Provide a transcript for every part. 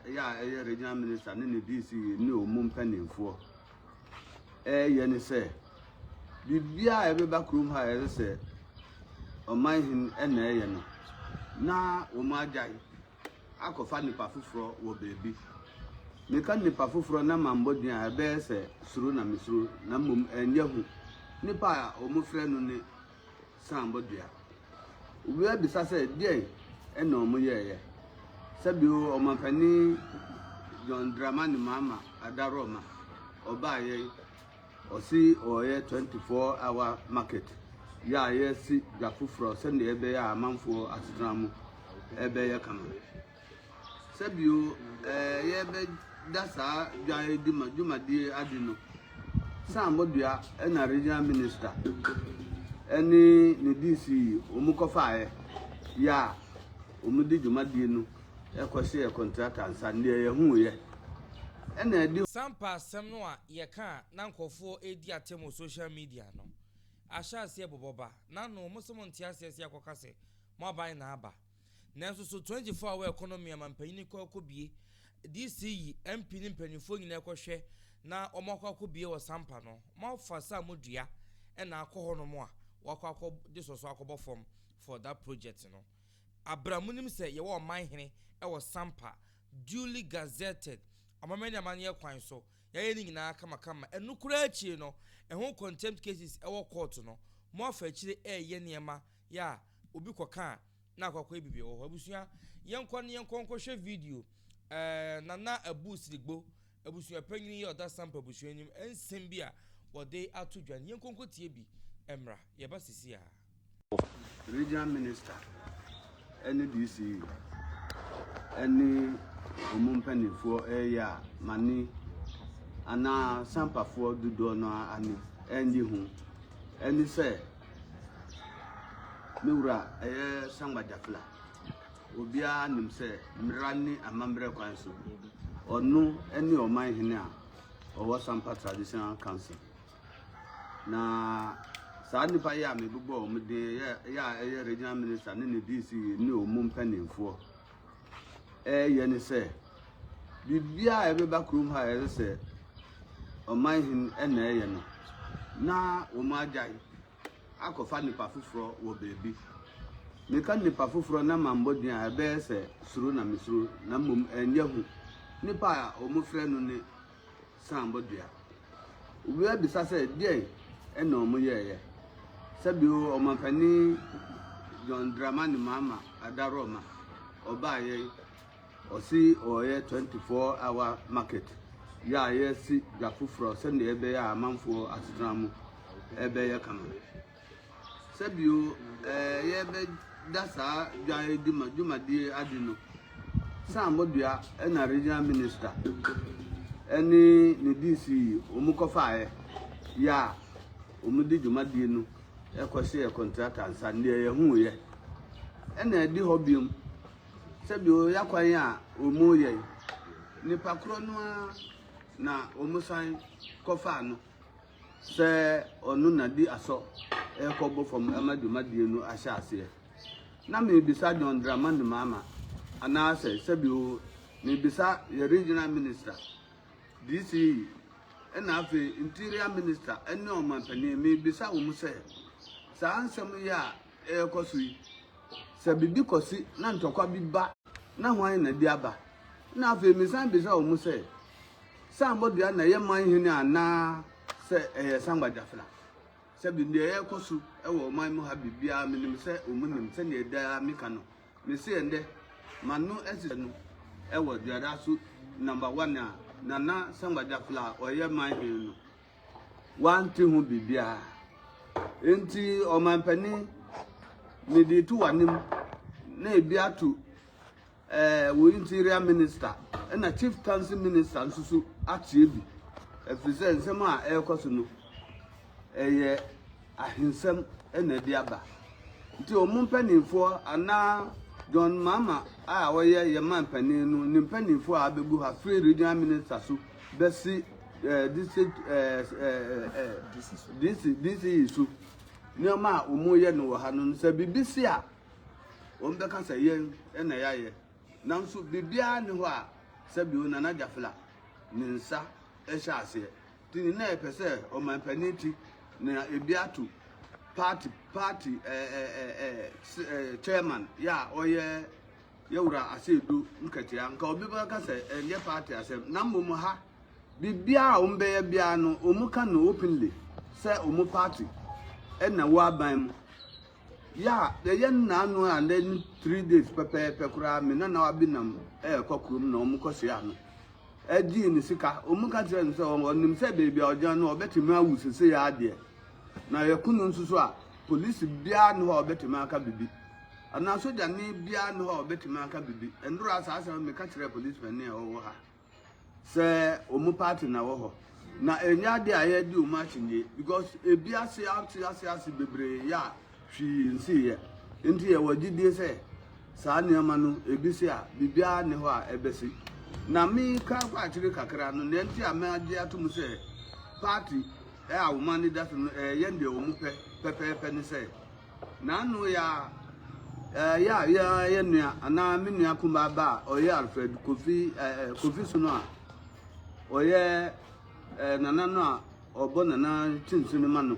yɛ a ɛyɛ regional minister ne ne DC ne ɔmu mpanimfoɔ ɛyɛ ne sɛ biribiara a ɛbɛba kurom ha ɛsɛ sɛ ɔman hin ɛna ɛyɛ no na wɔn agyae akɔfa nipa foforɔ wɔ baabi meka nipa foforɔ na ma mbɔ din a ɛbɛyɛ sɛ suro na mesuro na mmom ɛnyɛ ho nipa a wɔfrɛ no ne sãã bɔ dua. Obi abisa sɛ deɛn na wɔyɛeɛ. Sɛbio Ɔmampanin John Dramani Mahama Adaroma ɔbaeɛ yi, ɔse ɔreyɛ 24 hour market yɛ a yɛasi dwa foforɔ sɛdeɛ ɛbɛyɛ a amanfoɔ asetena mu ɛbɛyɛ kama. Sɛ bio ɛɛ yɛbɛda saa dwayɛdi ma dwumadie adi no, Sam Bodua na Regional Minister ɛne ne DC wɔn kɔfaaɛ yɛ a wɔn de dwumadie no ɛkɔ hyɛɛ kɔntrata nsa deɛ yɛhuuiɛ ɛna ɛde. Sampa asɛm no a yɛka a na nkorɔfoɔ redi atɛm wɔ social media no ahyɛ aseɛ bobɔ ba n'ano, wɔn se wɔnte aseɛ se yɛakɔka se mo aban na aba. Nanso so Twentyfoɔ a wɔyɛ kɔnɔ mia mampanin kɔ kɔ bie DC yi MP ne mpaninfoɔ nyinaa kɔ hwɛ na wɔn akɔ akɔ bie wɔ sampa no mo afa sa mo dua ɛna akɔ hɔ nom a wɔakɔ akɔ de sɔsɔ akɔ bɔ fam for that project no abra mo nim sɛ yɛwɔ ɔman hene ɛwɔ sampa duly gazetted amamɛ ne amaneɛ kwan so yɛayɛ ne nyinaa kama kama ɛno koraa akyire no ɛho contempt cases ɛwɔ court no mo afa akyire ɛɛyɛ nneɛma yɛ a obi kɔka a na akɔ akɔyɛ biribi wɔ hɔ. Abusua, yɛnkɔ na yɛnkɔ nkɔhwɛ video ɛɛ Nana Abu Sirigbo, abusua panyin yɛ ɔda Sampa abusua anim nsɛm bi a wɔde ato dwa no. Yɛnkɔ nkɔtie bi mmra. Yɛba sisi a. Regional Minister ne DCE ne wɔn mpanimfoɔ reyɛ a mane anaa Sampafoɔ dodoɔ no ara ani nnye ho ne sɛ Me wura ɛyɛ Sangba Jafela. Obiara nim sɛ mmara ne amammerɛ kwan so ɔno ne ɔman hene a ɔwɔ Sampa Traditional Council. Na saa nnipa yi a mebobɔ wɔn din yɛ yɛ a ɛyɛ regional minister ne ne DC ne wɔn mu mpanimfoɔ. reyɛ ne sɛ biribiara a ɛbɛba kurom ha a ɛsɛ sɛ ɔman hene na ɛyɛ no na wɔn agyae akɔfa nipa foforɔ wɔ baabi meka nipa foforɔ na ma mbɔ din a ɛbɛyɛ sɛ suro na mesuro na mmom ɛnyɛ ho nipa a wɔfrɛ no ne sãã bɔ dua. Owura bisa sɛ, Deɛn na wɔyɛeɛ? Sɛbio Ɔmampanin John Dramani Mahama Adaroma ɔbaeɛ, ɔse ɔreyɛ 24 hour market yɛ a yɛasi dwa foforɔ sɛdeɛ ɛbɛyɛ a amanfoɔ asetena mu ɛbɛyɛ kama. Sɛ bio ɛɛ yɛbɛda saa dwayɛdi ma dwumadie adi no, Sam Modua na Regional Minister ɛne ne DC wɔn kɔfaaɛ yɛ a wɔn de dwumadie no ɛkɔ hyɛɛ kɔntrata nsa deɛ yɛhuuiɛ ɛna ɛdi hɔ biom sɛ bio yakwan a wɔn yɛ yi nipa korɔ no ara na wɔn san kɔfaa no. sɛ ɔno na di asɔ rekɔbɔ fam ma dwumadie no ahyɛ aseɛ. Na merebisa John Dramani Mahama anaasɛ sɛbi oo merebisa yɛ Regional Minister, DCE, ɛna afei Interior Minister ne Ɔmanpanin, merebisa wɔn sɛ saa nsɛm yi a ɛrekɔ so yi, sɛ biribi kɔsi na ntɔkwa bi ba na hwan na ɛde aba? Ɛna afei mesan bisa wɔn sɛ, Sambɔ dua na ɛyɛ man hene anaa sɛ ɛyɛ sangba gyafra. Sɛbi nea ɛrekɔ so wɔ ɔman mu ha biribiara menim sɛ wɔn nim sɛnea ɛda ara meka no. Mese ɛndɛ m'ano asisa no wɔ duada so number one a Nana Sangba Gyafra a ɔyɛ man hene no wante ho biribiara. Enti ɔman panin mede to w'anim na ebi ato Ɛɛ wo interior minister ɛna chieftaincy minister nso so ateɛ bi. Ɛfiri sɛ nsɛm a ɛrekɔ so no ɛyɛ ahensɛm ɛna ɛde aba. Nti wɔn mpanimfoɔ anaa John Mahama a ɔyɛ yɛn man panin no ne mpanimfoɔ a abɛgu ha firi regional minister so bɛsi ɛɛ district ɛɛ ɛɛ DC DC so nneɛma a wɔyɛ no wɔ ha no sɛ biribi si a. wɔbɛka sɛ yɛn na yɛayɛ. Nanso biribiara nni hɔ a sɛbio Nana Gyafla ne nsa hyɛ aseɛ. Nti ne na yɛpɛ sɛ ɔmanpanin ti na ebi ato party party eh, eh, eh, eh, s- eh, chairman yɛ a ɔyɛ yɛwura aseedu nkatia nka obi bɛka sɛ ɛnyɛ party asɛm na mmom ha biribiara a wɔbɛyɛ biara no wɔka no openly sɛ wɔn party ɛna wɔ aban mu Yeah ɛyɛ nnaa no a nnɛ no three days pɛpɛɛpɛ koraa me nana abi nam ɛɛkɔ kurom na wɔn kɔ hyia no ɛgyee ne sika wɔn ka kyerɛ no sɛ ɔnim sɛ beebi a ɔgyina no ɔbɛtumi awu sese yɛ adeɛ na yɛko no nso so a polisi biara ne hɔ a ɔbɛtumi aka bibi anaa sogyani biara ne hɔ a ɔbɛtumi aka bibi ɛndoro a saa asɛm meka kyerɛ polisi panin a ɔwɔ ha. sɛ wɔn party na ɛwɔ hɔ na ɛnyɛ adeɛ a yɛdi wɔn akyinnye because ebi ase ate ase ase bebree yɛ a hwee nsiiɛ nti yɛwɔ gyidie sɛ saa nneɛma no ebi se a biribiara ne hɔ a ɛbɛsi na meka kɔ akyire kakra no nea nti a magye atom sɛ party a wɔn ani da so no ɛyɛ deɛ wɔn pɛ pɛpɛɛpɛ ne sɛ N'ano yɛ a, ɛyɛ a yɛ a yɛ nua anaa me nua kumaa ba a ɔyɛ Alfred Kofi ɛɛ Kofi Sono a ɔyɛ ɛɛ nana no a ɔbɔ nana kyinsi no ma no.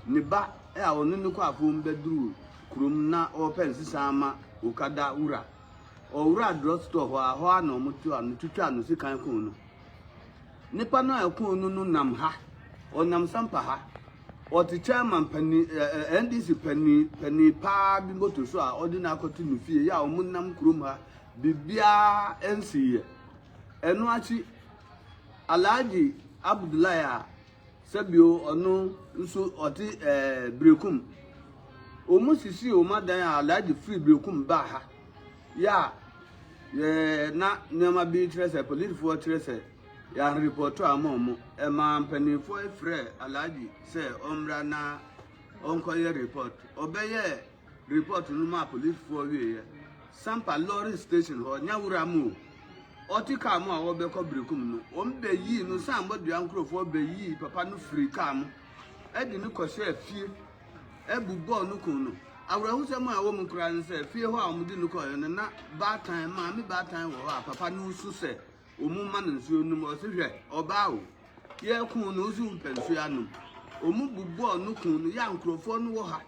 Ne ba a ɔne no kɔ afom bɛduru kurom na ɔrepɛ nsesa ama Okada wura. Ɔwuraa drug store hɔ a, hɔ ara na wɔtoaa no, twitwaa no sekan kum no. Nnipa no a ɛkoo no no nam ha, ɔnam sampa ha. Ɔte chairman panin, ɛɛ NDC panin panin paa bi moto so a ɔde no akɔto ne fie yɛ a wɔn nam kurom ha. Biribiara nsi yɛ. Ɛno akyi, Alhaji Abdullahi a sɛbio ɔno nso ɔte ɛɛ Berekum. Wɔn sisi wɔn adan a Alhaji firi Berekum baa ha. yɛ a yɛ na nneɛma bi kyerɛ sɛ polisifoɔ kyerɛ sɛ yɛanrepɔto a ama ɔmo ɛmaa mpanimfoɔ frɛ alhaji sɛ ɔmmra na ɔnkɔyɛ report ɔbɛyɛ report no maa polisifoɔ wieɛ sampa lorry station hɔ nyawura mu o ɔte kaa mu a wɔbɛkɔ birikum no wɔn bɛyii no san bɔdua nkurɔfoɔ bɛyii papa no firi kaa mu ɛde no kɔhyɛɛ fie abu bɔɔ no kum no. Awerɛhosɛm a ɛwɔ mu koraa ne sɛ, fie hɔ a wɔde no kɔeɛ no, na baatan, maame baatan wɔ hɔ a papa no resu sɛ wɔmma no nsuo nnom. Ɔse hwɛ, ɔbaa o, yɛkuu no, wo so wompɛ nsuo anom. Wɔbu bɔɔ no kum no. Yɛ a nkurɔfoɔ no wɔ ha,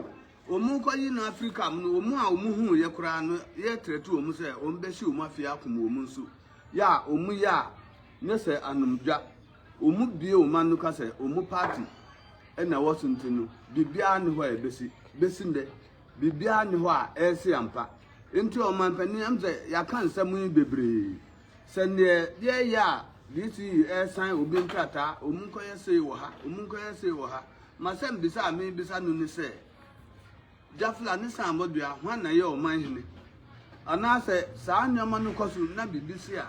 wɔrekɔyi no afiri kaa mu no, wɔn a wɔhuiɛ koraa no, yɛretrɛte wɔn sɛ wɔbɛhye wɔn afie akum wɔn nso. Yɛ a wɔyɛ a, nyɛ sɛ anomdwa. Ɔmo bie ɔmo ano ka sɛ ɔmo party na ɛwɔ so nti no biribiara nni hɔ a ɛbɛsi. Bɛsi nnɛ biribiara nni hɔ a ɛresi ampa. Nti ɔmanpanin ɛm sɛ yɛaka nsɛm yi bebree. Sɛ neɛ yɛɛyɛ a DC ɛresan obi nkrataa, ɔmo nkɔyɛ sei wɔ ha, ɔmo nkɔyɛ sei wɔ ha. M'asɛm bisa a meebisa no ne sɛ. Jafla ne saamɔ dua, hwan na ɛyɛ ɔman hene? Anaa sɛ saa nneɛma no kɔ so na biribi si a,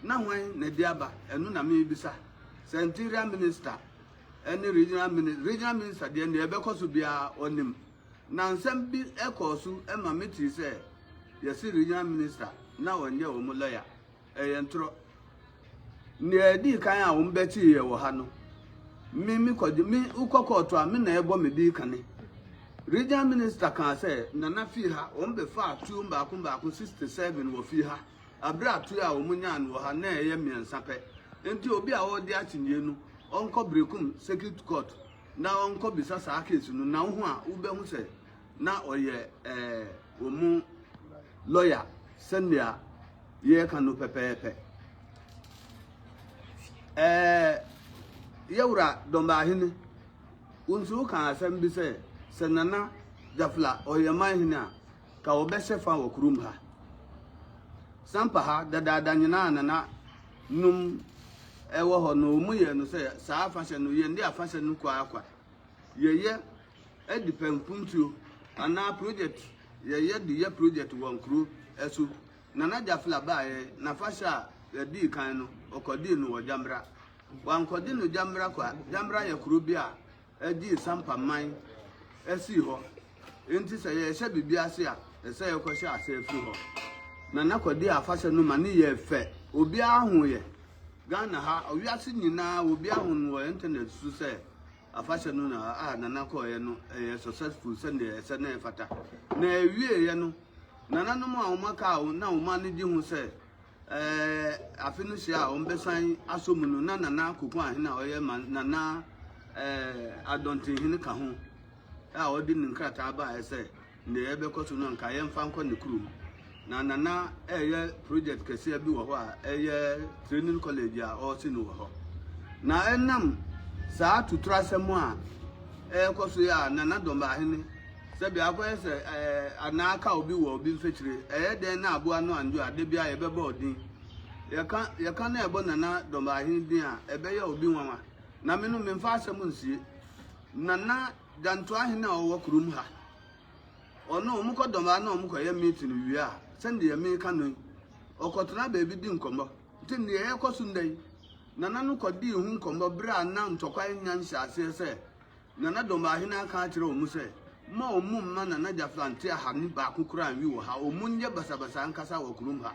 na hwan na ɛde aba? Ɛno na merebisa. Sɛ Interior Minister ne Regional Minister, Regional Minister deɛ nea ɛbɛkɔ so biara ɔnim. Na nsɛm bi kɔɔ so ma metee sɛ yɛse Regional Minister na ɔnyɛ wɔn lɔya. Ɛyɛ ntorɔ. Nea ɛdii kan a wɔn bɛtee yɛ wɔ ha no, me me kɔgye me wokɔ kɔɔto a me na ɛbɔ me dii kane. Regional minister kaa sɛ Nana fii ha wɔn bɛfaa tuo mbaako mbaako 67 wɔ fii ha abere a tuo a wɔn nyaa no wɔ ha na ɛyɛ mmiɛnsa pɛ nti obi a ɔregye akyinnyie no ɔnkɔ Berekum circuit court na ɔnkɔ bisa saa case no na wohu a wobɛhu sɛ na ɔyɛ ɛɛ wɔn mu lɔya sɛnea yɛreka no pɛpɛɛpɛ ɛɛ yɛwura dɔmbaahene wɔn nso woka asɛm bi sɛ sɛ nana gyafla ɔyɛ man hene a ka ɔbɛhyɛ fa wɔ kurom ha sampa ha dadaada nyinaa nana num ɛwɔ hɔ no wɔn yɛ no sɛ saa afahyɛ no yɛn de afahyɛ no kwaakwa yɛyɛ. Ɛde pɛnkuntuo anaa project yɛyɛ de yɛ project wɔ nkuro so. Nana Jafla baeɛ n'afahyɛ a yɛdii kan no ɔkɔdii no wɔ Gyamra. Wankɔde no Gyamra kwa, Gyamra yɛ kuro bi a ɛgyee Sampa man sii hɔ. Nti sɛ yɛrehyɛ biribi ase a ɛsɛ sɛ yɛkɔhyɛ aseɛ firi hɔ. Nana kɔdii afahyɛ no ma no yɛɛ fɛ, obiara hoeɛ. Ghana ha, wiase nyinaa obiara hu no wɔ internet so sɛ. Afahyɛ no na a Nana kɔɔeɛ no ɛyɛɛ successful sɛdeɛ ɛsɛ na ɛfata. Na ɛwieeɛ no, nananom a wɔaka a na wɔn ani gye ho sɛ ɛɛ afe no hyia a wɔbɛsan asɔ mu no, na Nana Akufo Ahene a ɔyɛ ma Nana ɛɛ Adɔntenhene ka ho a ɔde ne nkrataa baeɛ sɛ Nea yɛbɛkɔ so no anka yɛmfa nkɔ ne kurom. Na na na ɛreyɛ project kɛseɛ bi wɔ hɔ a ɛyɛ training college a ɔresi no wɔ hɔ. Na ɛnam saa tuturasɛm a ɛrekɔ so yɛ a na na Dɔmbahene sɛdeɛ akɔyɛ sɛ ɛɛ anaa aka obi wɔ obi mfekyire ɛyɛ dɛn na aboa no andwo a da biara yɛbɛbɔ ɔdin. Yɛka yɛka na ɛbɔ Nana Dɔmbahene din a ɛbɛyɛ obi nwanwa. Na me no memfa asɛm nsie. Nana Dantuahen a ɔwɔ kurom ha, ɔno wɔkɔ dɔm ara na wɔkɔyɛ meeting wie a, sɛdeɛ meka no yi, wɔkɔtena baabi di nkɔmmɔ. Nti deɛ ɛrekɔ so nnɛ yi, Nana no kɔdii ho nkɔmmɔ berɛ a na ntɔkwa nnya nhyɛaseɛ sɛ Nana Dɔmbaahene aka akyerɛ wɔn sɛ, Mma wɔn mma Nana Gyafla nte ahanu baako koraa nwi wɔ ha, wɔnyɛ basabasa nkasa wɔ kurom ha.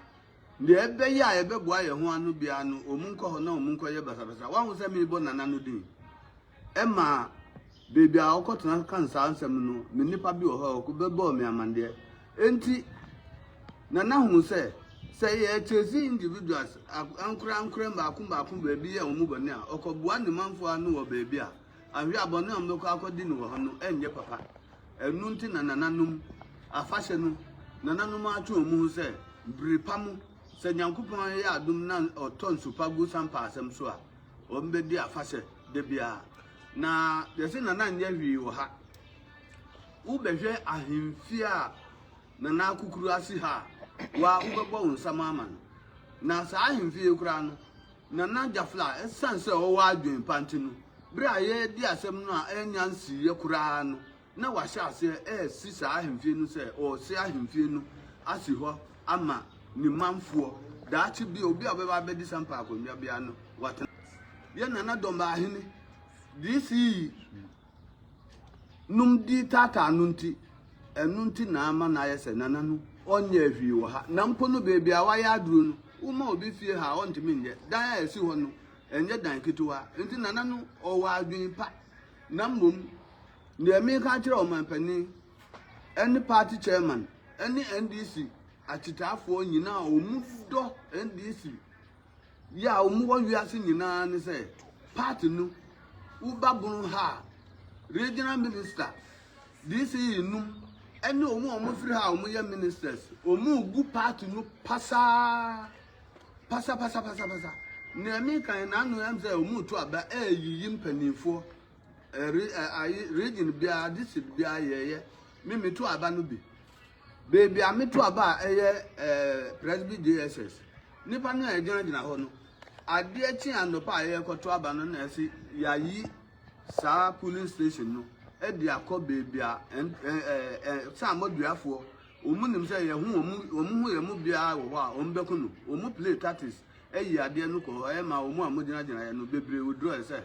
Nea ɛbɛyɛ a yɛbɛboa yɛn ho ano biara no, wɔnkɔ hɔ na wɔnkɔyɛ basabasa. Woahu sɛ merebɔ Nana no din? Ɛma baabi a ɔkɔtena kan saa nsɛm no, me nipa bi wɔ hɔ a ɔbɛbɔɔ me amanneɛ. Enti Nana hu sɛ, sɛ yɛkyɛse individuals, ankorankora mmaako mmaako baabi yɛ wɔn bɔne a, ɔkɔboa ne manfoɔ ano wɔ baabi a anhwɛ a bɔne a wɔbɛkɔ akɔdi no wɔ hɔ no renyɛ papa. Ɛno nti na nananom afahyɛ no, nananom atwe wɔn ho sɛ bere pa mu sɛ Nyankopɔn yɛ adom na ɔtɔ nsu pa gu sampa asɛm so a, wɔbɛdi afahyɛ da biara. Na yɛse nana nyɛ hwee wɔ ha. Wobɛhwɛ ahemfie a nana akukuru asi ha a, wa wobɛbɔ wo nsam ama no. Na saa ahemfie yi koraa no, Nana Jafla, ɛsiane sɛ ɔwɔ adwene pa nti no, bere a yɛredi asɛm no a annya nsiiɛ koraa no, na wahyɛ aseɛ resi saa ahemfie no sɛ ɔresi ahemfie no asi hɔ ama ne manfoɔ. Daakye bi, obi a ɔbɛba abɛdi Sampa akonnwa biara no, watena. Yɛn Nana Dɔmbahene, DC. nom dii taataa no nti, ɛno nti na ama no ayɛ sɛ Nana no ɔnyɛɛ hwee wɔ ha. Na mpo no baabi a wayɛ aduro no, woma obi fie ha a, ɔntumi nyɛ. Dan a ɛsi hɔ no, ɛnyɛ dan ketewa. Nti Nana no ɔwɔ adwene pa. Na mmom, deɛ meka akyerɛ ɔmanpanin ne party chairman ne NDC akyitaafoɔ nyinaa a wɔdɔ NDC Yɛ a wɔn wɔ wiase nyinaa ne sɛ party no wo babunu ha a regional minister DC num ɛne wɔn a wɔn firi ha a wɔn yɛ ministers wɔn gu party no pasaa pasa pasa pasa pasa nea mi kan na ano yɛn sɛ wɔn to aba ɛɛyiyi mpanimfoɔ ɛre ɛɛ region biara district biara yɛyɛ mi mi to aba no bi Baabi a meto aba a ɛyɛ Presby JSS, nnipa no a ɛgyinagyina hɔ no, adeɛ kye anɔpa a yɛrekɔto aba no na ɛse yɛayi saa polling station no de akɔ baabi a saamaduafoɔ wɔn nim sɛ yɛn ho wɔn ho yɛn mu biara wɔ hɔ a wɔn bɛko no wɔn play tactics ayi adeɛ no kɔ hɔ ɛyɛ ma wɔn a wɔgyinagyina yɛn no bebree wodurɔ sɛ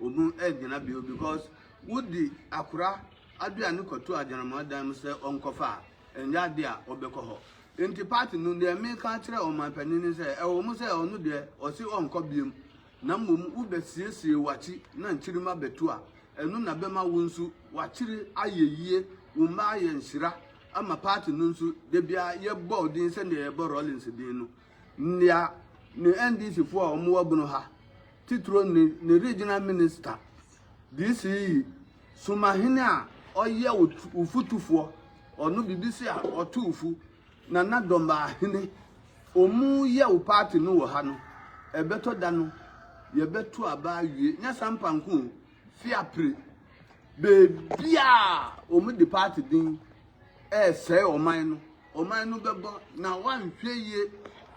wɔn gyina bio because wodi akora. Ade a no kɔto Agyenamoa dan mu sɛ ɔnkɔfa a, ɛnyɛ ade a ɔbɛkɔ hɔ. Enti part no, deɛ meka akyerɛ ɔman panin ne sɛ, ɛwɔ mu sɛ ɔno deɛ ɔse ɔnkɔ biom, na mmom wo bɛ siesie wakyi na nkyirimma bɛtu a, ɛno na bɛma wo nso wakyiri ayɛ yie, wo mma ayɛ nhyira ama part no nso, dabiara yɛbɔ wo din sɛdeɛ yɛbɔ Rawlings din no. Nea ne NDC fo a wɔwɔ bunu ha, titiro ne ne regional minister, DC yi, Sumahene a ɔyɛ ufutufoɔ, ɔno bibi se a ɔto ufu, Nana Dɔmbahene, ɔmu yɛ wo party no wɔ ha no, ɛbɛtɔ da no, yɛbɛto aba awie, nyɛ Sampa nko o, Fiapre, baabi a wɔde party din ɛresɛe ɔman no, Ɔman no bɛbɔ na woanhwɛ yie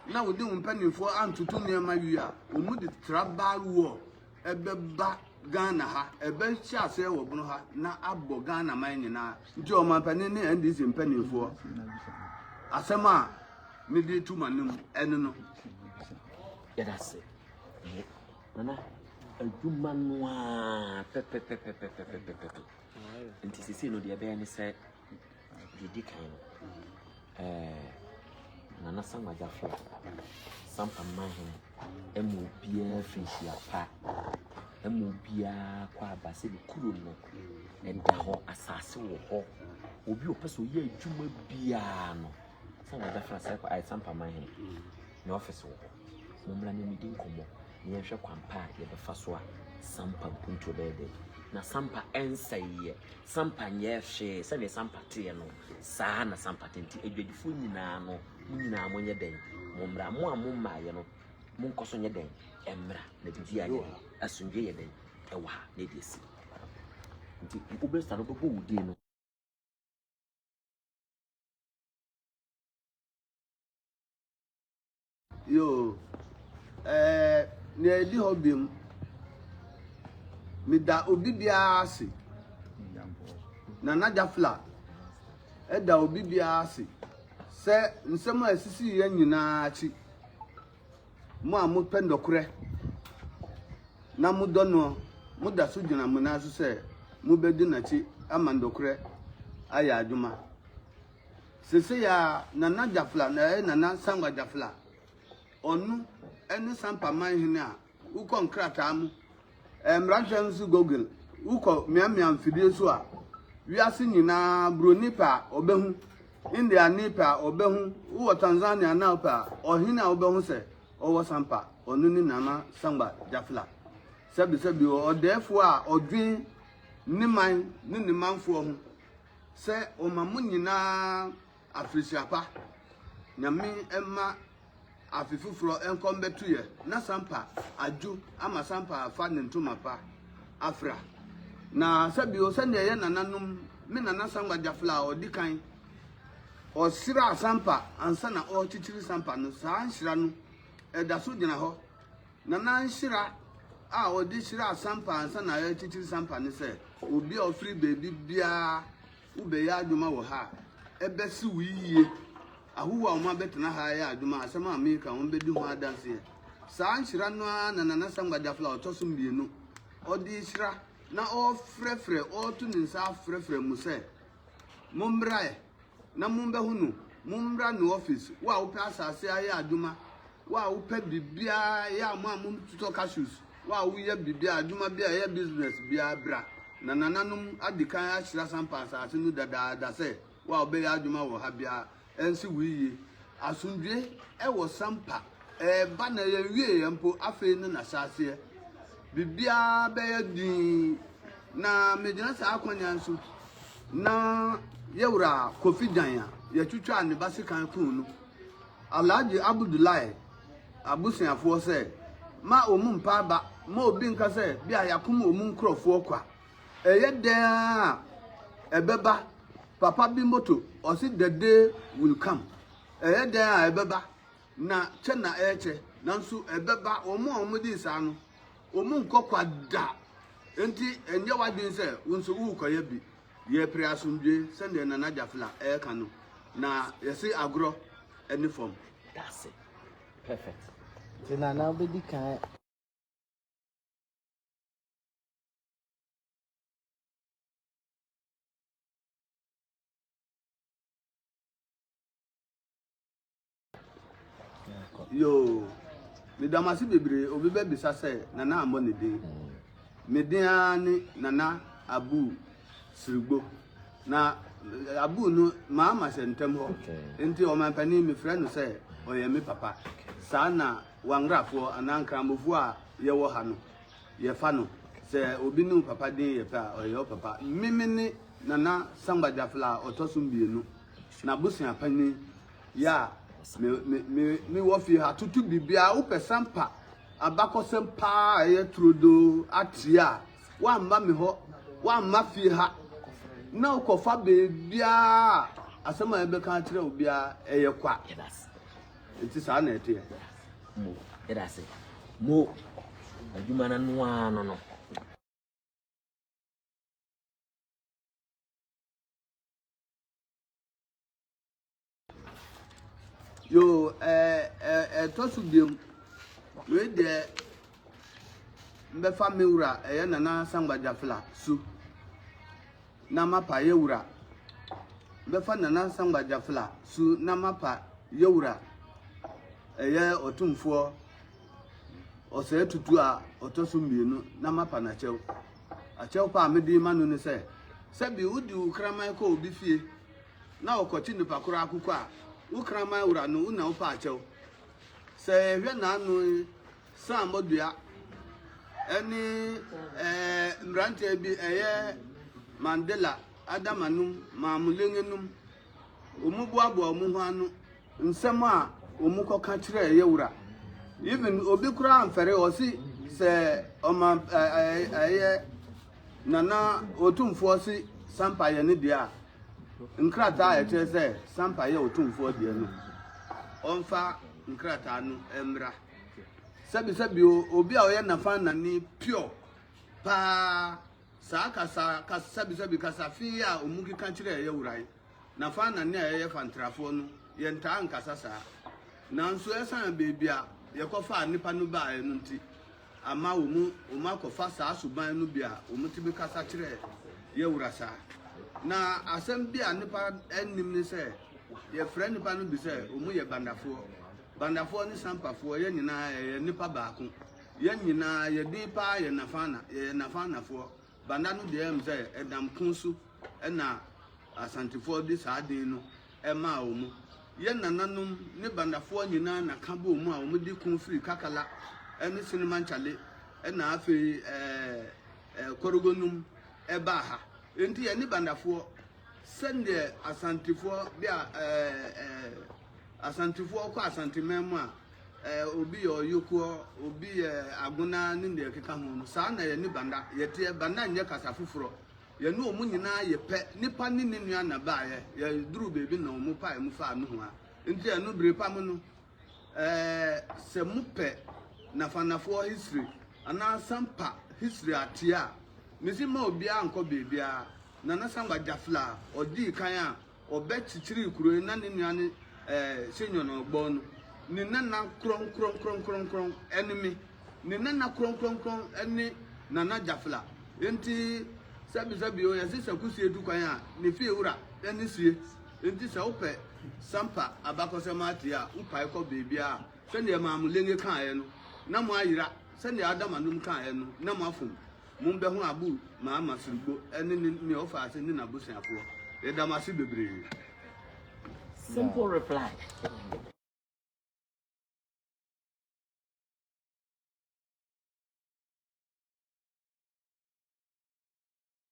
na wode wo mpanimfoɔ antoto nneɛma wie a, wɔde tribal war ɛbɛba Ghana ha. Ɛbɛhyɛ aseɛ wɔ bono ha na abɔ Ghana man nyinaa. Nti ɔmanpanin ne NDC mpanimfoɔ asɛm a mede to ma no mu ɛno no. Yɛda ase. Nana adwuma no a pɛpɛpɛpɛpɛpɛpɛpɛ. Nti sisi no deɛ ɛbɛyɛ ne sɛ Deɛ ɛdi kan no, ɛɛ Nana Sam Agyafia, Sam Amahene, ɛma obiara firi hyia pa, ɛma obiara kɔ aba sɛ ne kuro no ɛda hɔ, asase wɔ hɔ. Obi ɔpɛ sɛ ɔyɛ adwuma biara no, Sam Agyafia sɛ kɔ ayɛ Sam Amahene, ne ɔfisi wɔ hɔ. Mommra na yɛmmɛdi nkɔmmɔ na yɛnhwɛ kwan pa a yɛbɛfa so a sampa mpuntuo bɛyɛ dɛ. Na sampa nsɛeɛ. Sampa nyɛɛ hwee. Sɛdeɛ sampa teɛ no, saa ara na sampa te. Nti adwadifoɔ nyinaa no, mo nyinaa monyɛ dɛn? Mommra. Mo a mommaeɛ no, monkɔ so nyɛ dɛn? Mmra. Na biribiara nyɛ den. Asomdwoeɛ yɛ dɛn wɔ ha? Na ɛde asi. Nti wobɛsua no, wobɛbɔ wo din no. Yoo, ɛɛ, nea ɛdi hɔ biom, meda obi biara ase. Nana Jafla, ɛda obi biara ase sɛ nsɛm a ɛsisi yɛ nyinaa akyi. Mo a mopɛ nnɔkorɛ na modɔ noɔ, moda so gyina mo nan so sɛ mobɛdi n'akyi ama nnɔkorɛ ayɛ adwuma. Sesei a Nana Jafla na ɛyɛ Nana Sankwa Jafla, ɔno ne Sampa man hene a wokɔ nkrataa mu, mmarahyɛ nso Google, wokɔ miamia mfidie so a, wiase nyinaa buroni pɛ a ɔbɛhu, Indiani pɛ a ɔbɛhu, wowɔ Tanzania na wopɛ a, ɔhene a wobɛhu sɛ ɔwɔ Sampa, ɔno ne Nana Sankwa Jafla. Sɛbesɛbe o, ɔdɛɛfoɔ a ɔdwen ne man ne ne manfoɔ ho. sɛ ɔma mo nyinaa afirihyia pa. Nyame mma afe foforɔ nkɔ mbɛto yɛ na sampa adwo ama sampa afa ne ntoma pa afra. Na sɛbio sɛdeɛ ɛyɛ nananom me nana sangwa gyafla a ɔdi kan ɔsra sampa ansa na ɔrekyekyere sampa no saa nhyira no ɛda so gyina hɔ Nana nhyira a ɔde hyiraa Sampa ansa na yɛrekyekyere Sampa ne sɛ, Obi a ɔfiri baabi biara wobɛyɛ adwuma wɔ ha a, ɛbɛsi wo yiye. Ahɔho a wɔabɛtena ha ayɛ adwuma a, asɛm a mereka yi, wɔbɛdi ho adanseɛ. Saa nhyira no ara na Nana Sangba Dafla a ɔtɔ so mmienu, ɔde rehyira na ɔrefrɛfrɛ, ɔreto ne nsa afrɛfrɛ mo sɛ, Mommra ɛ na mombɛhu no, mommra no office, wo a wopɛ asase ayɛ adwuma, wo a wopɛ biribiara yɛ a mo a mototɔ cashews, wo a woyɛ biribiara, adwuma biara, yɛ business biara, bra. Na nananom adi kan ahyira sampa asase no dadaada sɛ, wo a wobɛyɛ adwuma wɔ ha biara, Ɛnsi wo yiye. Asomdwoe wɔ Sampa. Ɛreba na yɛnwieeɛ mpo, afei ne n'ahyɛaseɛ. Biribiara bɛyɛ dinn. Na megyina saa akwanyan so na yɛ wura Kofi Gyan a yɛtwitwaa ne ba sekan kuu no, Alhaji Abudulai abusuafoɔ sɛ, ma wɔn mpa aba, ma obi nka sɛ bi a yɛakom wɔn nkurɔfoɔ kwa. Ɛyɛ dɛn ara a, ɛbɛba. Papa bi motto, ɔse the day will come. Ɛyɛ dɛn a, ɛbɛba. Na kyɛ na ɛrekyɛ, nanso ɛbɛba. Wɔn a wɔgye di saa no, wɔnkɔ kwa da. Enti ɛnyɛ w'adwene sɛ wo nso worekɔyɛ bi. Yɛpere asomdwoe, sɛdeɛ Nana Gyafla reka no, na yɛse agorɔ ne fam. Dase. Perfect. Nti Nana wobɛdi kan. yoo meda mo ase bebree obi bɛbisa sɛ nana ammɔ ne din me din ara ne nana abu sirigbo na eh, abu no maa ma hyɛ ntɛm hɔ nti ɔmanpanin mefrɛ no sɛ ɔyɛ me papa saa na wangrafoɔ anaa nkramofoɔ a yɛwɔ ha no Yɛfa no sɛ obi ne wo papa den yɛ pɛ a, ɔyɛ wo papa. Me me ne Nana Samba Gyafla a ɔtɔ so mmienu, n'abusua panin. Yɛ a me me me me wɔ fie ha toto biribiara. Wopɛ Sampa abakɔsɛm pa ara a ɛyɛ turodoo ateɛ a, woamma me hɔ, woamma fie ha, na wokɔfa baabiara a asɛm a yɛbɛka akyerɛ wo biara, ɛyɛ kwa. Nti saa na ɛteɛ. Mo yɛda ase mo adwuma no ano ara no no. Yo ɛɛ ɛɛ ɛtɔ so biam wei deɛ mbɛfa me wura ɛyɛ nana sangbadwa fila su. na mapa yawura bɛfa Nana Sangba Jafla su na mapa yawura ɛyɛ ɔtumfoɔ ɔsɛɛ tutu a ɔtɔ so mmienu na mapa n'akyɛw. Akyɛw pa a mede ma no ne sɛ, sɛ bi wode wo kraman kɔ obi fie na ɔkɔkye nipa koro akokɔ a, wo kraman wura no, wo na wopɛ akyɛw. Sɛ yɛhwɛ n'ano yi, Sammɔdua ne mmeranteɛ bi ɛyɛ Mandela Adama nom Maamulenge nom wɔn boaboa wɔn ho ano. Nsɛm a wɔn kɔ ka kyerɛ ɛyɛ wura even obi koraa nfɛre ɔsi sɛ ɔma ɛyɛ nana otumfoɔ si sampa yɛ ne deɛ a nkrataa a ɛkyerɛ sɛ sampa yɛ otumfoɔ deɛ no ɔnfa nkrataa no mmra. Sɛbi sɛbi o, obi a ɔyɛ Nafanani pure paa, saa kasa kas sɛbi sɛbi kasa fi yi a ɔmu keka kyerɛ yɛ wura yi, Nafanani a yɛyɛ Fantrafoɔ no, yɛ ntaa nkasa saa. Nanso ɛsane baabi a yɛkɔ faa nnipa no baaɛ no nti, ama ɔmu ɔmu akɔ fa saa suban no bi a ɔmu tumi kasa kyerɛ yɛ wura saa. Na asɛm bi a nnipa nnim ne sɛ, yɛfrɛ nnipa no bi sɛ ɔmu yɛ Bandafoɔ. Bandafoɔ ne Sampafoɔ, yɛn nyinaa yɛyɛ nnipa baako. Yɛn nyinaa yɛ din pa ara yɛ Nafana, yɛyɛ Nafanafoɔ. Banda no deɛ ɛyɛm sɛ ɛdam ko so na Asantefoɔ de saa din no maa wɔn. Yɛn nananom ne Bandafoɔ nyinaa na ka bɔɔ mu a wɔn de ko firi Kakala ne Sinimankyale na afei ɛɛ Korogonum ɛbaa ha. Enti yɛne Bandafoɔ sɛdeɛ Asantefoɔ de a ɛɛ ɛɛ. Asantefoɔ ɔkɔ Asanteman mu a, ɛɛ obi yɛ Ɔyokoɔ, obi yɛ Agona ne deɛ ɛkeka ho no. Saa na yɛne Banda yɛteɛ. Banda nyɛ kasa foforɔ. Yɛne wɔn nyinaa yɛ pɛ. Nipa ne ne nua na baeɛ. Yɛduruu baabi na wɔn paee mu faa nohoa. Nti ɛno bere pa mu no, ɛɛ sɛ mopɛ Nafanafoɔ history anaa Sampa history ateɛ a, mese mma obiara nkɔ baabiara. Nana Sangba Jafla, ɔdii kan a, Ɔbɛ kyikyirii kuro yi na ne nua ne Senyor na ɔgbɔn no, ne nana krɔnkrɔnkrɔnkrɔnkrɔn ne me, ne nana krɔnkrɔnkrɔn ne Nana Jafla. Enti sɛbisɛbi o, yɛse sɛ kusie tu kwan a, ne fiewura ne sie. Enti sɛ wopɛ Sampa abakɔsɛm atie a, wopae kɔ baabiara a, sɛdeɛ Maamo Lenge kaaeɛ no, na moayera, sɛdeɛ Adam Anum kaaeɛ no, na moafom. Mommɛhu Abu Muhammad Sirigbo ne ne nea ɔfaa ase ne n'abusuafoɔ. Yɛda mo ase bebree. Simple reply.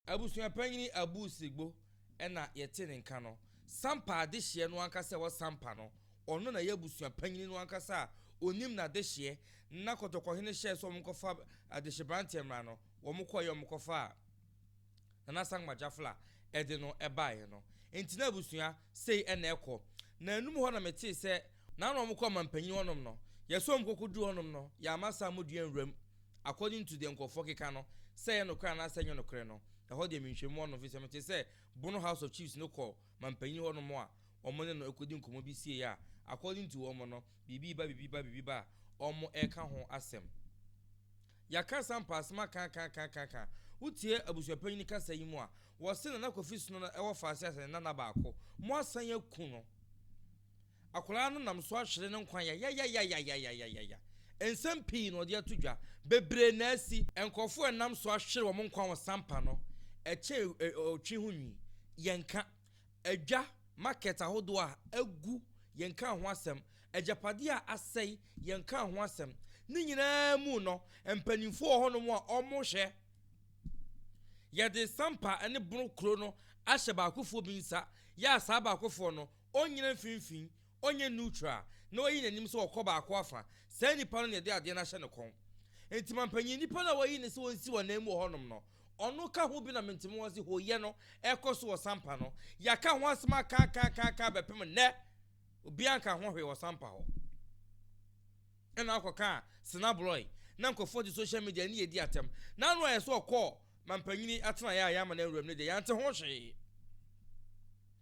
Abusua Panyini Abu Sirigbo na yɛte ne nka no. Sampa adehyeɛ no ankasa a ɛwɔ Sampa no, Ɔno na ɛyɛ abusua panyin no ankasa a onim n'adehyeɛ, na Kɔtɔkɔhene hyɛɛ sɛ wɔnkɔfa adehyeberanteɛ mmra no, wɔkɔeɛ, wɔkɔfaa Nana Sankma Gyafl a ɛde no baeɛ no. Enti na abusua sei na ɛkɔ. Na anum hɔ na metee sɛ. Na na wɔkɔ ɔmampanyin hɔnom no. Yɛsɔɔ mu kɔkɔduu hɔnom no, yɛamma saa modua nwura mu, according to deɛ nkurɔfoɔ keka no, sɛ ɛyɛ nokorɛ anaasɛ ɛnyɛ nokorɛ no, ɛhɔ deɛ menhwɛmu hɔnom, firi sɛ metee sɛ Bono House of Chiefs no kɔɔ, mampanyin hɔnom a wɔn ne no rekodi nkɔmmɔ bi siei a according to wɔn no biribi ba biribi ba biribi ba a wɔn reka ho asɛm. Yɛaka saa mpaasem akaakaakaakaaka. Wotie abusuapanyin kasa yi mu a, wɔse Nana Kofi Sono no wɔ faase asɛnnenan baako. Moasan aku no. Akwadaa no nam so ahwere ne nkwa yayayayayayayayaya. Nsɛm pii na ɔde ato dwa. Bebree na asi. Nkurɔfo a ɛnam so ahwere wɔn nkwa wɔ sampa no kyɛ ɔtwe ho nwi. Yɛnka adwa, market, ahodoɔ a agu, yɛnka ho asɛm. Agyapadeɛ a asɛe, yɛnka ho asɛm. Ne nyinaa mu no, mpanimfoɔ wɔ hɔnom a wɔhwɛ. Yɛde sampa ne bono kuro no ahyɛ baakofoɔ bi nsa, yɛ a saa baakofoɔ no, Ɔnnyina mfinimfini, ɔnyɛ neutral, na ɔyi n'anim sɛ ɔkɔ baako afa. Saa nipa no na yɛde adeɛ no ahyɛ ne kɔn. Enti mampanyin nipa no a wɔayi no sɛ ɔnsi wɔn nan mu wɔ hɔnom no. Ɔno ka ho bi na mentemi wɔn se hooyɛ no rekɔ so wɔ Sampa no. Yɛaka ho asem akaakaakaaka bɛpem nnɛ, obiara nkaa ho hwee wɔ Sampa hɔ. Ɛna akɔkaa Senabloi na nkurɔfoɔ de social media ne yɛdi atɛm. Na ano ayɛ sɛ ɔkɔɔ mampanyin atenaeɛ a yɛama no awuram no deɛ, yɛante ho hwee.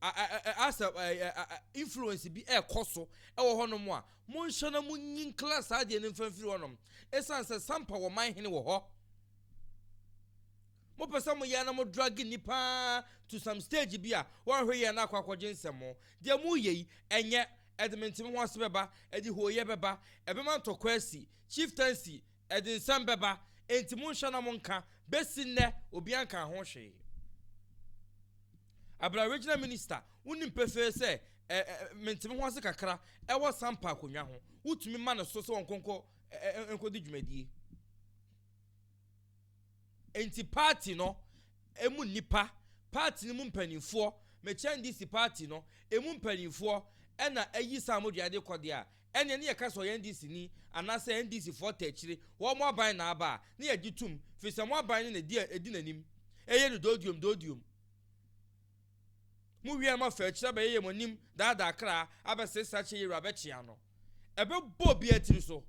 asɛ influence bi ɛkɔ so ɛwɔ hɔnom a monhyɛ na monyi nkla saa adeɛ no mfa mfiri hɔnom ɛsiane sɛ sampa wɔ man hene wɔ hɔ mopɛ sɛ moyɛ na mo drag nnipa to some stage bi a wɔnhwe yɛ no akɔ akɔgye nsɛm deɛ moyɛ yi ɛnyɛ ɛde menteme ho ase bɛba ɛde hooyɛ bɛba ɛbɛma ntɔkwa asi chieftaincy Ɛde nsɛm bɛba, enti monhwɛ na monka, bɛsi nnɛ obiara nkaa ho hwee. Abira Regional Minister, wonim pefee sɛ ɛ, ɛ, mente me ho ase kakra wɔ Sampa akonnwa ho, wotumi ma no so sɛ ɔnkɔ nkɔ, ɛ, ɛ, nkɔdi dwumadie. Enti party no ɛmu nnipa, party no mu mpanimfoɔ, Machel NDC party no ɛmu mpanimfoɔ ɛna ayi saa modua de kɔ deɛ a, ɛneɛ ne yɛka sɛ ɔyɛ NDC ni anaasɛ NDC foɔ ta akyire, wɔn aban na aba a ne yɛgye tom firi sɛ mo aban no na ɛdi a ɛdi n'anim ɛyɛ no dooduom dooduom. Mo wiɛɛ mo afɛ akyire abɛyɛ yɛ mo anim daadaa kra abɛsesa kyɛ yɛwura bɛkye ano ɛbɛbɔ obiara tiri so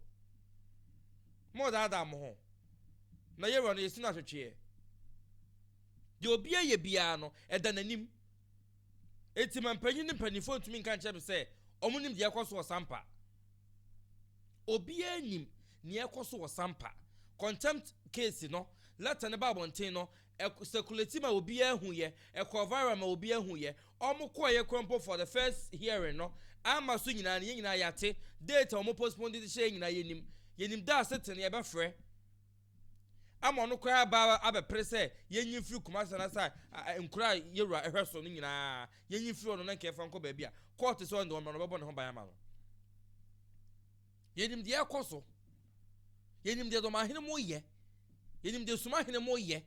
mo daadaa mo ho na yɛwura no yɛsi no ahwetweɛ deɛ obiara yɛ biara no ɛda n'anim. Enti ma mpanyin ne mpanyimfo ntumi nka nkyerɛ me sɛ wɔnim nea ɛrekɔ so wɔ Sampa. Obiara nnim nea ɛrekɔ so wɔ Sampa. Contempt case no, lɛta no baa abɔnten no, ɛ, circulate ma obiara huiɛ, ɛkɔɔ viral ma obiara huiɛ. Wɔkɔeɛ koraa mpo for the first hearing no, amma so nyinaa no, yɛn nyinaa yɛate. Date a wɔpostpone de de hyɛeɛ nyinaa yɛnim. Yɛnim da a sitting no yɛbɛfrɛ. ama ɔno koraa aba abɛpere sɛ yɛnyi mfiri Kumasi anaasɛ nkuro a Yewura hwɛ so no nyinaa yɛnyi mfiri hɔ no na nka yɛfa nkɔ baabi a kɔɔte sɛ ɔno deɛ ɔno bɛbɔ ne ho ban ama no. Yɛnim deɛ ɛkɔ so. Yɛnim deɛ dɔmahene mo yɛ. Yɛnim deɛ sumahene mo yɛ.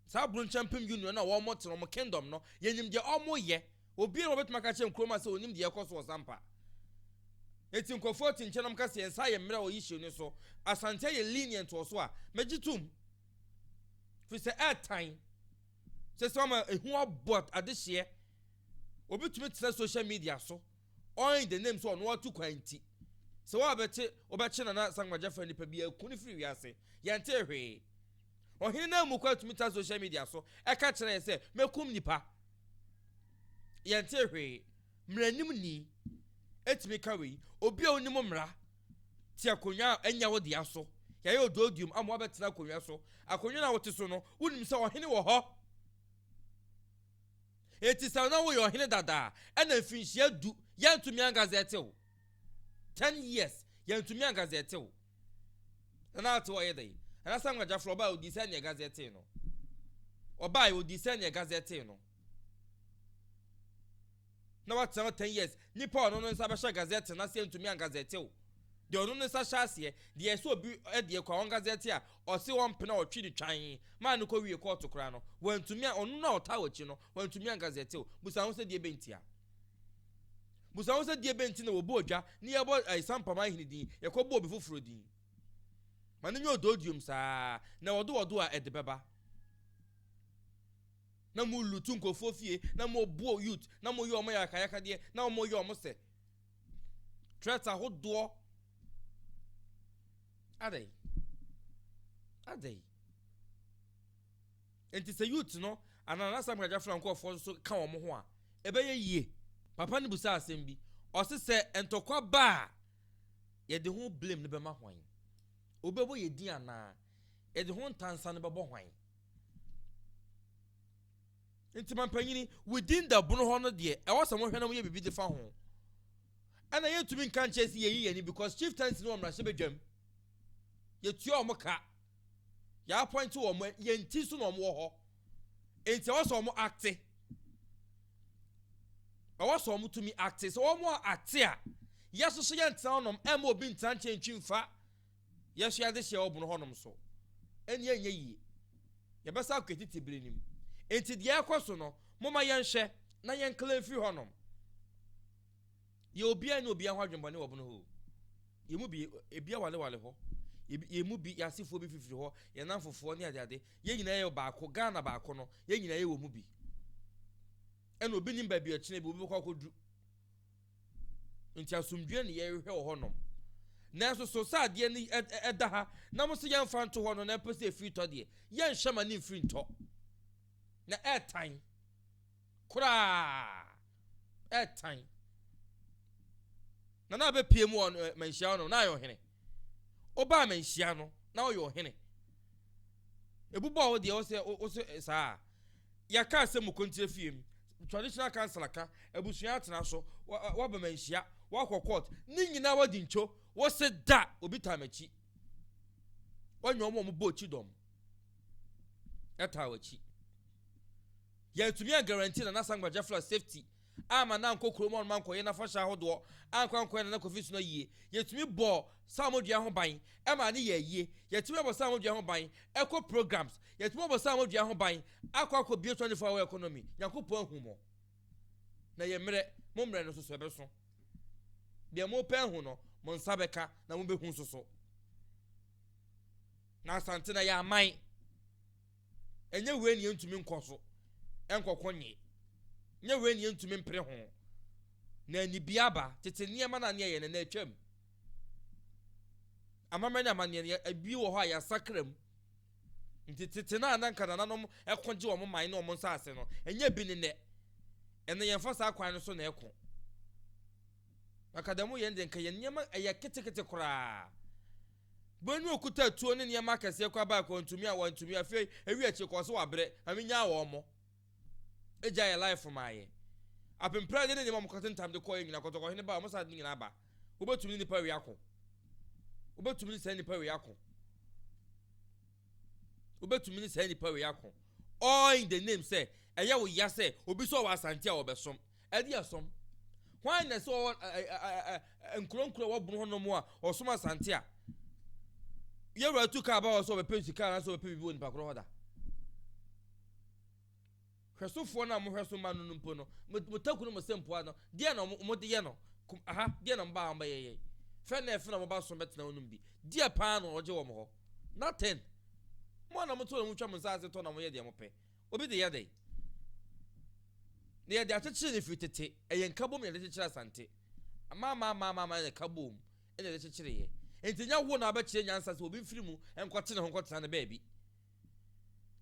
Saa Brunchampem Union no a wɔtena wɔn kingdom no, yɛnim deɛ wɔyɛ. Obiara wɔbɛtumi aka kyerɛ nkurom a sɛ onim deɛ ɛkɔ so wɔ Zampa. Eti nkurɔfoɔ te nkyɛn na wɔka sɛ yɛn nsa ayɛ mmerɛ wɔ issue no so. Asante yɛ lenient wɔ so a, mɛgye tom. Firi sɛ ɛɛtan. Sɛ sɛ wɔn ehu abɔ adehyeɛ. Obi tumi tena social media so. ɔin the name sɛ ɔno atu kwan nti sɛ woabɛte wobɛkye Nana Asankwa Gyafra nipa bi aku no firi wiase yɛntee hwee Ɔhene no ammu kwan tumi tra social media so ɛka kyerɛ yɛn sɛ mɛkum nipa yɛntee hwee Mmaranim ni ɛtumi ka wei obi a onim mmara te akonnwa a ɛnyɛ wo dea so yɛayɛ odooduom ama wabɛtena akonnwa so akonnwa no a wote so no wonim sɛ ɔhene wɔ hɔ Enti sɛ na woyɛ ɔhene dada a, ɛna mfinhyia du, yɛntumi angazɛte wo. Ten years, yɛntumi angazɛte wo. Na na ate ɔyɛ dɛn? Anaasɛ nwagyaforo ɔbaa odii sɛ nea ɛgazɛtee no? Ɔbaa odii sɛ nea ɛgazɛtee no. Na watena hɔ ten years. Nipa ɔno no nsa bɛhyɛ gazɛte no ase ntumi angazɛte wo. Deɛ ɔno no nsa hyɛ aseɛ, deɛ ɛsɛ obi deɛ kɔ a ɔngazɛte a, Ɔse ɔmpɛ na ɔtwe de twan maa no kɔ wie kɔɔto koraa no wantumi a ɔno no a ɔtaa wakyi no wantumi anka sɛ tew busa ho sɛ deɛbɛn ntia busa ho sɛ deɛbɛn nti na wɔbu ɔdwa ne yɛbɔ Sampaman hene din yɛkɔ bu obi foforɔ din ma no nyɛ ɔdɔɔdiom saa na wɔde wɔdo a ɛde bɛba na mo lutu nkurɔfoɔ fie na mo buo youth na mo yɛ ɔmo yakayakadeɛ na ɔmo yɛ ɔmo sɛ Threat ahodoɔ adɛn adɛn nti sɛ youth no anaa n'asɛm kagya fira nkurɔfoɔ nso ka wɔn ho a ɛbɛyɛ yie papa no busa asɛm bi ɔse sɛ ntɔkwa ba a yɛde ho blame no bɛma hwan wobɛbɔ yɛ din anaa yɛde ho ntansa no bɛbɔ hwan Nti mampanyini within the bono hɔ no deɛ ɛwɔ sɛ mohwɛ na moyɛ biribi de fa ho. Ɛna yɛntumi nka nkyɛn sɛ yɛyi yɛn ani because chieftaincy no wɔ mmarahyɛbadwam. Yɛtua wɔn ka. Yɛappointe wɔn, yɛn ti so na wɔn wɔ hɔ. Nti ɛwɔ sɛ wɔn acte. Ɛwɔ sɛ wɔn tumi acte. Sɛ wɔn acte a, yɛso so yɛntena hɔnom ɛmma obi ntena nkyɛn ntwi mfa Yɛasua adesua wɔ bunu hɔnom so. Ɛnneɛ ɛnyɛ yie. Yɛbɛsan akɔ yɛn tete bere no mu. Enti deɛ ɛrekɔ so no, momma yɛnhwɛ na yɛnkla mfiri hɔnom. Yɛ obiara nni obiara ho adwemmɔne wɔ bunu hɔ o. Yɛn mu bi, ebi awalewale hɔ. Ebi, yɛn mu bi, yɛn asefoɔ bi fifiri hɔ, yɛn nnamfofoɔ ne adeade. Yɛn nyinaa yɛ baako, Ghana baako no, yɛn nyinaa yɛ wɔ mu bi. Ɛnna obi nnim baabi a ɔkyena bi obi bɛkɔ akɔduru. Nti asomdwoeɛ ne yɛrehwehwɛ wɔ hɔnom. Nanso so sɛ adeɛ no ɛda ha na mo se yɛmfa nto hɔ no na ɛpɛ sɛ ɛfiri tɔ deɛ, yɛnhwɛ ma ne mfiri ntɔ. Na ɛtan koraa ɛtan. Na na abɛpie mu wɔ manhyia hɔnom na ayɛ ɔhene. Wobaa me nhyia no, na woyɛ ɔhene. Ebobɔɔ wo deɛ, wo sɛ, wo sɛ saa a. Yɛka asɛm mu kontie fie mu, traditional councillor ka, abusua atena so, woaba me nhyia, woakɔ court, ne nyinaa woadi ntwo, wo se da obi taa m'akyi. Wanya wɔn a wɔbɔ akyi dɔm ɛtaa w'akyi. Yɛntumi an guarantee Nana Asangwa Jaffer's safety amma no ankɔ kurom hɔ mma ankɔyɛ n'afahyɛ ahodoɔ, ankɔ ankɔyɛ n'anakwafi so no ayie. Yɛtumi bɔɔ Salmo dua ho ban maa no yɛɛ yie. Yɛtumi abɔ Salmo dua ho ban kɔ programs. Yɛtumi abɔ Salmo dua ho ban akɔ akɔbue 24 hour economy. Nyankopɔn ahummɔ na yɛ mmerɛ. Mo mmerɛ no nso so ɛbɛso. Deɛ mopɛ ahu no, mo nsa bɛka na mobɛhu nso so. Na Asante na yɛ aman. Ɛnyɛ wei na yɛntumi nkɔ so nkɔko nnye? Ɛnyɛ wei na yɛntumi mpere ho na anibea aba? Tete nneɛma no a na yɛyɛ no, na atwam. Amammerɛ ne amanneɛ no, ebi wɔ hɔ a yɛasakra mu. Nti tete no a na nka nananom ko gye wɔn man ne wɔn nsase no, ɛnyɛ bi ne nnɛ. Ɛnna yɛmfa saa kwan no so na ɛko. Nka dɛm yɛn de, nka yɛn nneɛma ɛyɛ ketekete koraa. Bue no okuta tuo ne nneɛma akɛseɛ kɔ abae kɔ ntumi a wantumi afei ewi akyire kɔ so wabrɛ mame nyaa wɔn mo egya yɛ life maa yɛ apemprade ne nneɛma ɔmo kɔte ntam de kɔɛ nyina kɔtɔkɔ hene ba ɔmo sa de nyina aba wobɛtumi ne nipa wei ako wobɛtumi ne saa nipa wei ako wobɛtumi ne saa nipa wei ako all in the name sɛ ɛyɛ wo ya sɛ obi sɛ ɔwɔ asante a ɔbɛsom Aduɔsɔm. Hwan na ɛsɛ ɔwɔ nkuro nkuro a wɔboro hɔ nom a ɔsom asante a yɛwura tu kaa ba hɔ sɛ ɔbɛpɛ sika anaasɛ ɔbɛpɛ biribi wɔ nipa korɔ hɔ da hwɛsofoɔ no a mohwɛ so ma no no mpo no motaku no mo sɛ mpoa no deɛ na wɔde yɛ no aha deɛ na mobaa wɔbɛyɛyɛ fɛ na ɛfɛ na wɔba so bɛtena wo nom bi deɛ paa na ɔgye wɔn hɔ nothing mo a na moto na motwa mo nsa ase tɔ na moyɛ deɛ mopɛ Obi de yɛ dɛn? Nea yɛde akyekyere no firi tete, ɛyɛ nkabom na yɛde kyekyere Asante. Amaamaamaamaama na ɛka boom na yɛde kyekyereeɛ. Enti ɛnyɛ wo na wobɛkyerɛ nyansa sɛ obi mfiri mu nkɔte ne ho nkɔtena no baabi.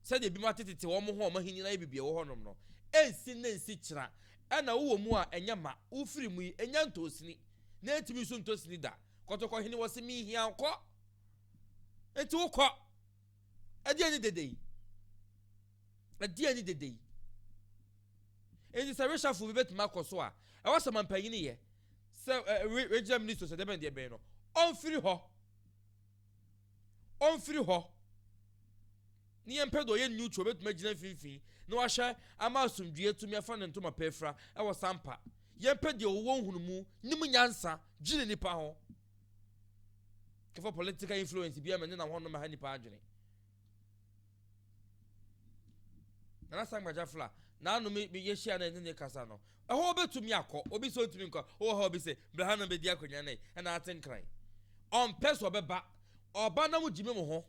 Sɛdeɛ ebinom atetete wɔn ho a wɔn ahennie no ayɛ biribi ɛwɔ hɔnom no, ɛnsi nnɛ nsi kyena. Ɛna wowɔ mu a, ɛnyɛ ma. Wofiri mu yi, ɛnya ntɔɔ sini. Na ɛntumi nso ntɔ sini da. Kɔtɔkɔhene, wɔse menhia wo, kɔ. Enti wokɔ. Ɛdeɛn ne dede yi? Ɛdeɛn ne dede yi? Enti sɛ reshuffle bi bɛtumi akɔ so a, ɛwɔ sɛ mampanyini yɛ sɛ ɛɛ regional minister sɛ dɛbɛn deɛ bɛn no, ɔmfiri hɔ. Ɔmfiri hɔ. Ne yɛn mpɛ deɛ ɔyɛ neutral bɛtumi agyina mfimfini na wahwɛ ama asomdwie tumi afa ne ntoma pɛfira ɛwɔ sampa. Yɛn mpɛ deɛ ɔwɔ nhunumu, nim nyansa, gyina nipa ho. Kɛfa political influence bia ma nyina hɔ no ma ha nipa adwene. Nana Sangbaja Fla, n'ano me yɛ hyia na ɛne ne kasa no. Ɛhɔ obetumi akɔ, obi sɛ ɔntumi nkɔ, ɔwɔ ha obi sɛ bra ha na bɛdi akonnwa no ɛna ate nkran. Ɔmpɛ so ɔbɛba, ɔba na mo gyimi mo ho,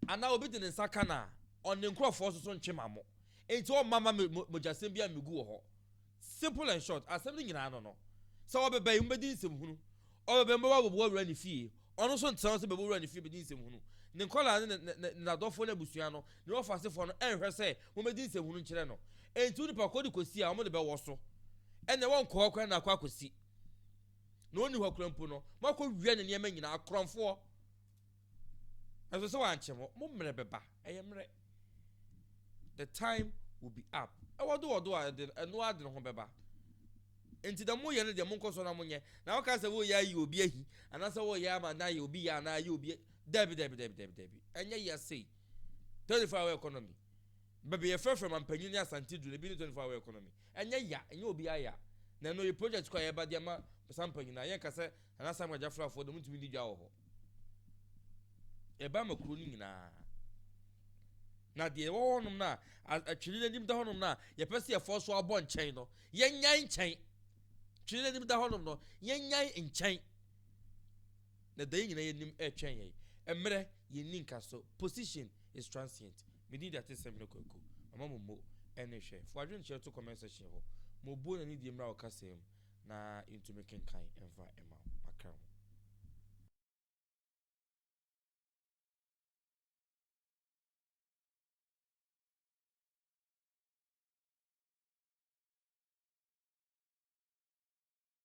anaa obi de ne nsa ka no a, ɔne nkurɔfoɔ nso so ntwe ma mo. Enti ɔmma ma mogyasɛm bia mmegu wɔ hɔ. Simple and short, asɛm no nyinaa ano no, sɛ wɔbɛba yi, mobɛdi nsɛm hunu. Ɔbɛba yi, mobɛba abɛboa wura no fie. Ɔno nso ntra hɔ sɛ bɛbɔ wura no fie bɛdi nsɛm hunu. Ne nkwadaa no ne ne ne n'adɔfoɔ ne abusua no ne wɔfa asefoɔ no nhwɛ sɛ wɔbɛdi nsɛm hunu nkyerɛ no. Enti wo nipa kɔ de kɔsi a wɔde bɛwɔ so. Ɛnneɛ wɔnkɔ hɔ koraa na akɔ akɔsi. Na ɔnni hɔ koraa mpo no, moakɔwia ne nneɛma nyinaa, akorɔmfoɔ. Nanso sɛ wɔankyɛ mo, mo mmerɛ bɛba, ɛyɛ mmerɛ, the time will be up, ɛwɔ do wɔ do a ɛde, ɛno ara de ne ho bɛba. Enti deɛ moyɛ no deɛ monkɔ so na monyɛ, na woka sɛ woreyɛ ayi obi ahi, anaasɛ woreyɛ ama na ayɛ obi yɛ anaa ayɛ obi, daabi, daabi, daabi, daabi, daabi, ɛnyɛ yɛ sei, 24 hour economy, baabi yɛfrɛfrɛ Mampanyin ne Asante duru no, ebi ne 24 hour economy, ɛnyɛ ya, ɛnyɛ obiara ya, na ɛno yɛ project kɔ a yɛba de ama saa mpanyin no a, yɛnka sɛ Nana Samuel Gyafra foɔ deɛ wɔntumi nni dwa wɔ hɔ. Ɛba ma kuro no nyinaa. Na deɛ ɛwɔ hɔnom no a atwene n'anim da hɔnom no a yɛpɛ sɛ yɛfɔ so abɔ nkyɛn no, yɛnyan nkyɛn. Twene n'anim da hɔnom no, yɛnyan nkyɛn. Na da yi nyinaa yɛnim ɛretwɛn yɛn. Mmerɛ yɛnni nka so. Position is transient. Medin de ate sɛm hene kwaku. Mama mo mo ɛne hwɛ. Fo adwenkyerɛ to comment section hɔ. Mo buo na ne die mmra wo kasa mu. na yentumi nkenkan mfa mma wo aka ho.